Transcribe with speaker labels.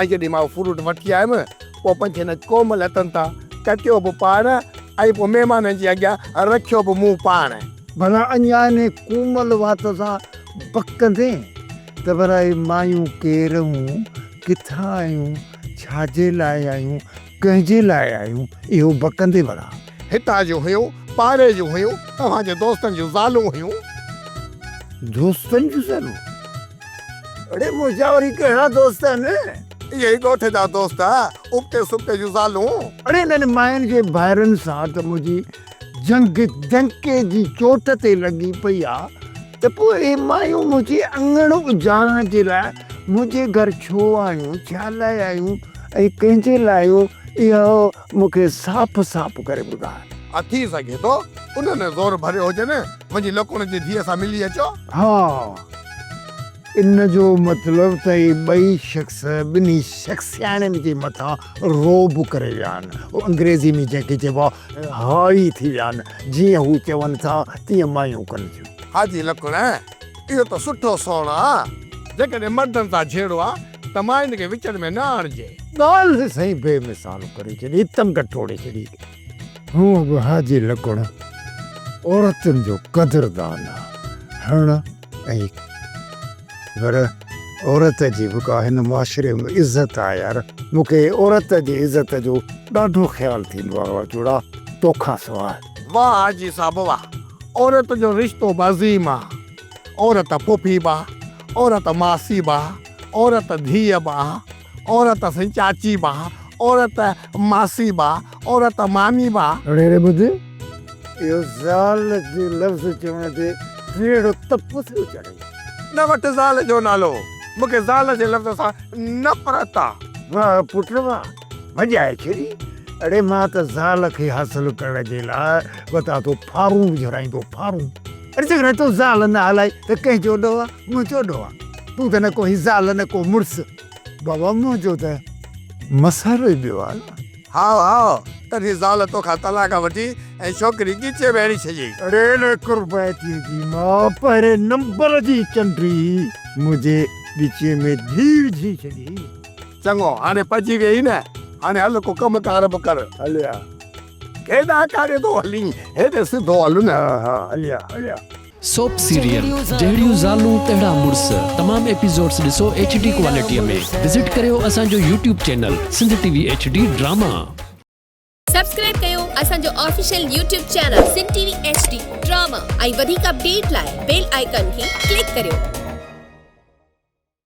Speaker 1: ۽ جڏهن مان اهو فروٽ وٺي آيم، پوء پنهنجي هن ڪومل هٿن تان ڪٽيو به پاڻ، ۽ پوء مهمانن جي اڳيان رکيو به مون پاڻ. ڀلا اڃا
Speaker 2: انهيء ڪومل وات سان بکندين، ته ڀلا اهي مايون ڪير آهيون، ڪٿان آهيون، ڇا جي لاء آهيون، ڪنهن جي لاء آهيون اهو بڪندي وڙان. هتان جون هيون،
Speaker 1: پاڙي جون هيون، توهان جي دوستن جون زالون هيون.
Speaker 2: دوستن جون زالون؟ اڙي منهنجا وري ڪهڙا دوست آهن. اهي ئي ڳوٺ
Speaker 1: جا دوست، ابتي سبتي جون زالون. اڙي انهن ماين
Speaker 2: جي ڀائرن سان ته منهنجي. جنگ جنڪي جي چوٽ تي لڳي پئي آ ته پوء اهي مايون منهنجي اڱڻ اجارڻ جي لاء منهنجي گهر ڇو آيون، ڇا لاء آيون ۽ ڪنهن جي لاء آيون، اهو مون کي صاف صاف ڪري ٻڌاء. ها ٿي سگهي ٿو
Speaker 1: انهن زور ڀريو هجن. وڃي لڪوڻ جي ڌيء سان ملي اچو. ها.
Speaker 2: ان جو مطلب ته اهي ٻئي شخص ٻنهي شخصياڻين جي مٿان رعب ڪري ويا آهن، هو انگريزي ۾ جنهن کي چئبو آهي High ٿي ويا آهن، جيئن هو چون ٿا تيئن مايون ڪن ٿيون. حاجي لڪڻ،
Speaker 1: اهو ته سٺو سون آ. جيڪڏهن مردن سان جهيڙو آ ته ماين کي وچڙ ۾ نه آڻجي. ڳالهه سائين
Speaker 2: بي مثال ڪري ڇڏي، تنگ ٽوڙي ڇڏي. هونء به حاجي لڪڻ عورتن جو قدردان آ هڻ ائين پر عورت جي به ڪا هن معاشري ۾ عزت آ يار مونکي عورت جي عزت جو ڏاڍو خيال ٿيندو آ واھ جوڙا توکان سواء. واھ حاجي صاحب
Speaker 1: واھ عورت جو رشتو به عظيم آ عورت پڦي به آ عورت ماسي به آ عورت ڌيء به آ. عورت سائين چاچي با، عورت ماسي با، عورت مامي با. رڙيري ٻڌ،
Speaker 2: اهو زال جي لفظ چوڻ تي ڪهڙو تپ ٿيو چڙهي. نه وٺ زال
Speaker 1: جو نالو، مون کي زال جي لفظ سان نفرت آ. واه پٽ واه،
Speaker 2: مڄائي ڇڏي. اڙي مان ته زال کي حاصل ڪرڻ جي لاء وتان ٿو ڦارون وجهرائيندو ڦارون. اڙي جيڪڏهن تو زال نه هلائي ته ڪنهن چوڏو آ، مون چوڏو آ. تون ته نه ڪو هي زال نه ڪو مڙس. بابا مون چيو ته مسحر ئي ٻيو آهي نه. هاء هاء
Speaker 1: تنهنجي زال توکان طلاق وٺي ۽ ڇوڪري ڳچيء ۾ هڻي ڇڏيئي. ريل
Speaker 2: قربائتيء جي ماء پهرين نمبر جي چنڊي منهنجي ڳچيء ۾ ڌيء وجهي ڇڏي. چڱو هاڻي
Speaker 1: پڄي ويئي نه، هاڻي هل ڪو ڪم ڪار به ڪر. هليا.
Speaker 2: ڪيڏانهن
Speaker 1: ڪاڙي ٿو هلين، هيڏي سڌو هل نه. ها ها هليا هليا.
Speaker 2: سوپ
Speaker 3: سيريل جهڙيون زالون تهڙا مڙس تمام ايپيسوڊس ڏسو ايڇ ڊي ڪوالٽيء ۾ وزٽ ڪريو اسان جو YouTube channel Sindh T V H D drama.
Speaker 4: Subscribe ڪيو اسان جو official YouTube channel Sindh T V H D drama ۽ وڌيڪ اپڊيٽ لاء بيل آئيڪان کي ڪلڪ ڪريو.